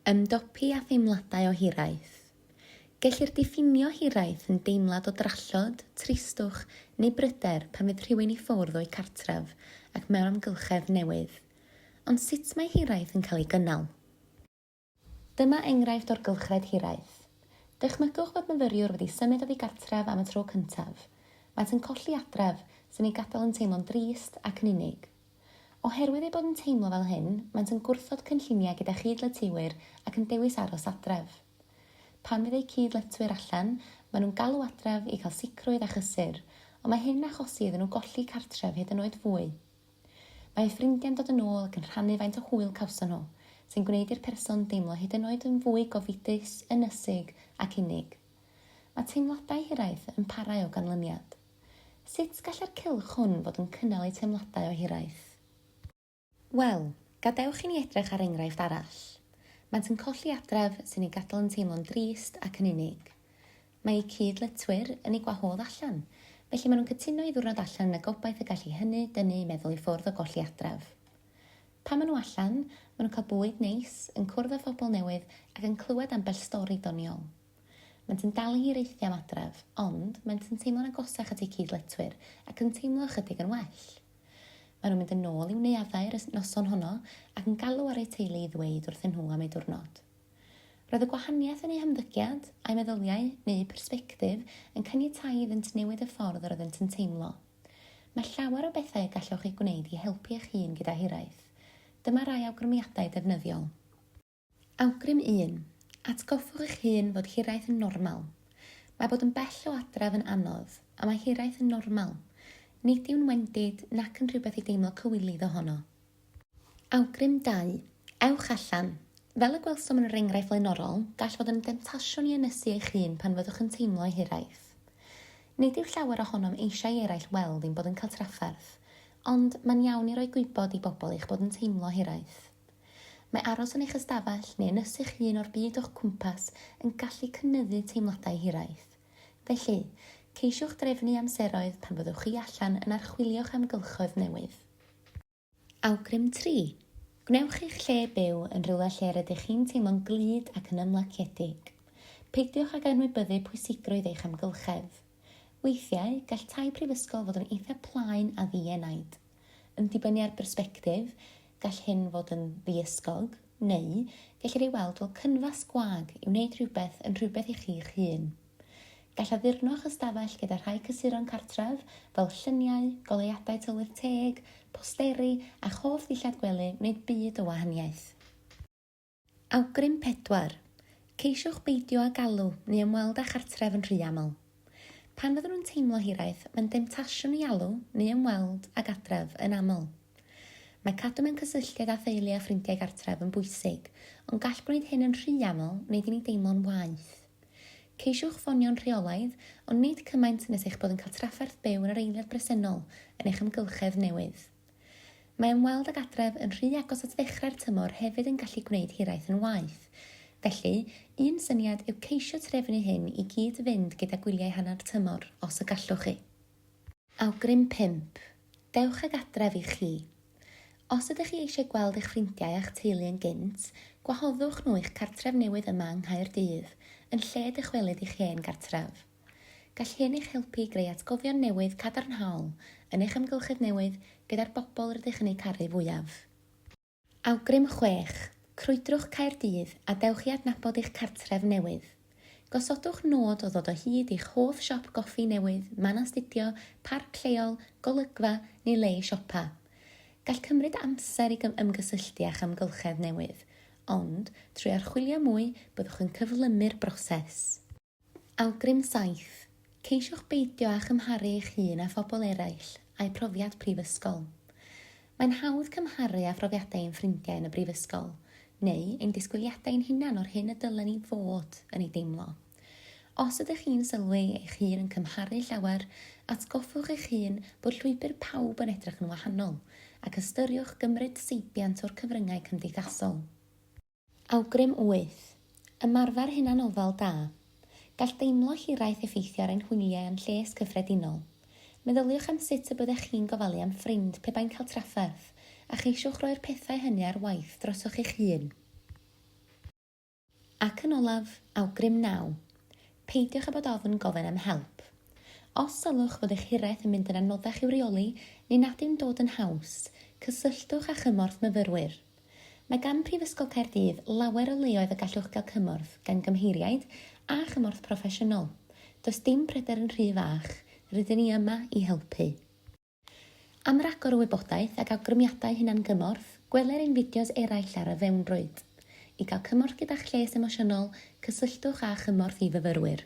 Ymdopi â theimladau o hiraeth. Gellir diffinio hiraeth yn deimlad o drallod, tristwch neu bryder pan fydd rhywun i ffwrdd o'u cartref ac mewn amgylchedd newydd. Ond sut mae hiraeth yn cael ei gynnal? Dyma enghraifft o'r gylchred hiraeth. Dychmygwch fod myfyriwr wedi symud oddi gartref am y tro cyntaf. Maent yn colli adref, sy'n eu gadael yn teimlo'n drist ac yn unig. Oherwydd eu bod yn teimlo fel hyn, maent yn gwrthod cynlluniau gyda chyd-letywyr ac yn dewis aros adref. Pan fydd eu cyd-letwyr allan, maen nhw'n galw adref i gael sicrwydd a chysur, ond mae hyn yn achosi iddyn nhw golli cartref hyd yn oed fwy. Mae eu ffrindiau'n dod yn ôl ac yn rhannu faint o hwyl cawson nhw, sy'n gwneud i'r person deimlo hyd yn oed yn fwy gofidus, ynysig ac unig. Mae teimladau hiraeth yn parhau o ganlyniad. Sut gallai'r cylch hwn fod yn cynnal eu teimladau o hiraeth? Wel, gadewch i ni edrych ar enghraifft arall. Maent yn colli adref sy'n eu gadael yn teimlo'n drist ac yn unig. Mae eu cyd-letwyr yn eu gwahodd allan, felly maen nhw'n cytuno i ddiwrnod allan yn y gobaith y gall i hynny dynnu eu meddwl i ffwrdd o golli adref. Pan maen nhw allan, maen nhw'n cael bwyd neis, yn cwrdd â phobl newydd ac yn clywed ambell stori doniol. Maent yn dal i hir eithrio am adref, ond maent yn teimlo'n agosach at eu cyd-letwyr ac yn teimlo ychydig yn well. Maen nhw'n mynd yn ôl i'w neuaddau yr noson honno ac yn galw ar eu teulu i ddweud wrthyn nhw am eu diwrnod. Roedd y gwahaniaeth yn eu hymddygiad, a'u meddyliau, neu'u persbectif, yn caniatáu iddynt newid y ffordd yr oeddent yn teimlo. Mae llawer o bethau y gallwch eu gwneud i helpu eich hun gyda hiraeth. Dyma rai awgrymiadau defnyddiol. Awgrym un, Atgoffwch eich hun fod hiraeth yn normal. Mae bod yn bell o adref yn anodd, a mae hiraeth yn normal. Nid yw'n wendid nac yn rhywbeth i deimlo cywilydd ohono. Awgrym dau, Ewch allan. Fel y gwelsom yn yr enghraifft flaenorol, gall fod yn demtasiwn i ynysu eich hun pan fyddwch yn teimlo hiraeth. Nid yw llawer ohonom eisiau i eraill weld ein bod yn cael trafferth, ond mae'n iawn i roi gwybod i bobl eich bod yn teimlo hiraeth. Mae aros yn eich ystafell neu yn ysy'ch hun o'r byd o'ch cwmpas yn gallu cynyddu teimladau hiraeth. Felly, ceisiwch drefnu amseroedd pan fyddwch chi allan yn archwilio'ch amgylchoedd newydd. Awgrym tri, Gwnewch eich lle byw yn rhywle lle rydych chi'n teimlo'n glyd ac yn ymlaciedig. Peidiwch ag anwybyddu pwysigrwydd eich amgylchedd. Weithiau, gall tai prifysgol fod yn eithaf plaen a ddi-enaid. Yn dibynnu ar bersbectif, gall hyn fod yn ddiysgog, neu gellir ei weld fel cynfas gwag i wneud rhywbeth yn rhywbeth i chi'ch hun. Gall addurno eich ystafell gyda rhai cysuron cartref, fel lluniau, goleuadau tylwyth teg, posteri, a'ch hoff ddillad gwely wneud byd o wahaniaeth. Awgrym pedwar, Ceisiwch beidio â galw neu ymweld â chartref yn rhy aml. Pan fyddwn yn teimlo hiraeth, mae'n demtasiwn i alw neu ymweld ag adref yn aml. Mae cadw mewn cysylltiad â theulu a ffrindiau gartref yn bwysig, ond gall gwneud hyn yn rhy aml wneud i ni deimlo'n waeth. Ceisiwch ffonio'n rheolaidd, ond nid cymaint nes eich bod yn cael trafferth byw yn yr eiliad bresennol yn eich amgylchedd newydd. Mae ymweld ag adref yn rhy agos at ddechrau'r tymor hefyd yn gallu gwneud hiraeth yn waeth. Felly, un syniad yw ceisio trefnu hyn i gyd fynd gyda gwyliau hanner tymor, os y gallwch chi. Awgrym pump, Dewch ag adref i chi. Os ydych chi eisiau gweld eich ffrindiau a'ch teulu yn gynt, gwahoddwch nhw i'ch cartref newydd yma yng Nghaerdydd, yn lle dychwelyd i'ch hen gartref. Gall hyn eich helpu i greu atgofion newydd cadarnhaol yn eich amgylchedd newydd gyda'r bobl rydych yn eu caru fwyaf. Awgrym 6, Crwydrwch Caerdydd a dewch i adnabod eich cartref newydd. Gosodwch nod o ddod o hyd i'ch hoff siop goffi newydd, man astudio, parc lleol, golygfa, neu le i siopa. Gall cymryd amser i ymgysylltu â'ch amgylchedd newydd, ond, trwy archwilio mwy, byddwch yn cyflymu'r broses. Awgrym saith, Ceisiwch beidio â chymharu eich hun â phobl eraill a'u profiad prifysgol. Mae'n hawdd cymharu â phrofiadau ein ffrindiau yn y brifysgol, neu ein disgwyliadau ein hunain o'r hyn y dylen ni fod yn ei deimlo. Os ydych chi'n sylwi eich hun yn cymharu llawer, atgoffwch eich hun bod llwybr pawb yn edrych yn wahanol, ac ystyriwch gymryd seibiant o'r cyfryngau cymdeithasol. Awgrym wyth. Ymarfer hunanofal da. Gall deimlo hiraeth effeithio ar ein hwyliau a'n lles cyffredinol. Meddyliwch am sut y byddech chi'n gofalu am ffrind pe bai'n cael trafferth, a cheisiwch roi'r pethau hynny ar waith drosoch eich hun. Ac yn olaf, awgrym naw. Peidiwch â bod ofn gofyn am help. Os sylwch fod eich hiraeth yn mynd yn anoddach i'w reoli neu nad yw'n dod yn haws, cysylltwch â chymorth myfyrwyr. Mae gan Prifysgol Caerdydd lawer o leoedd y gallwch gael cymorth gan gymheiriaid a chymorth proffesiynol. Does dim pryder yn rhy fach, rydyn ni yma i helpu. Am ragor o wybodaeth ac awgrymiadau hunan-gymorth, gweler ein fideos eraill ar y fewnrwyd. I gael cymorth gyda'ch lles emosiynol, cysylltwch â Chymorth i Fyfyrwyr.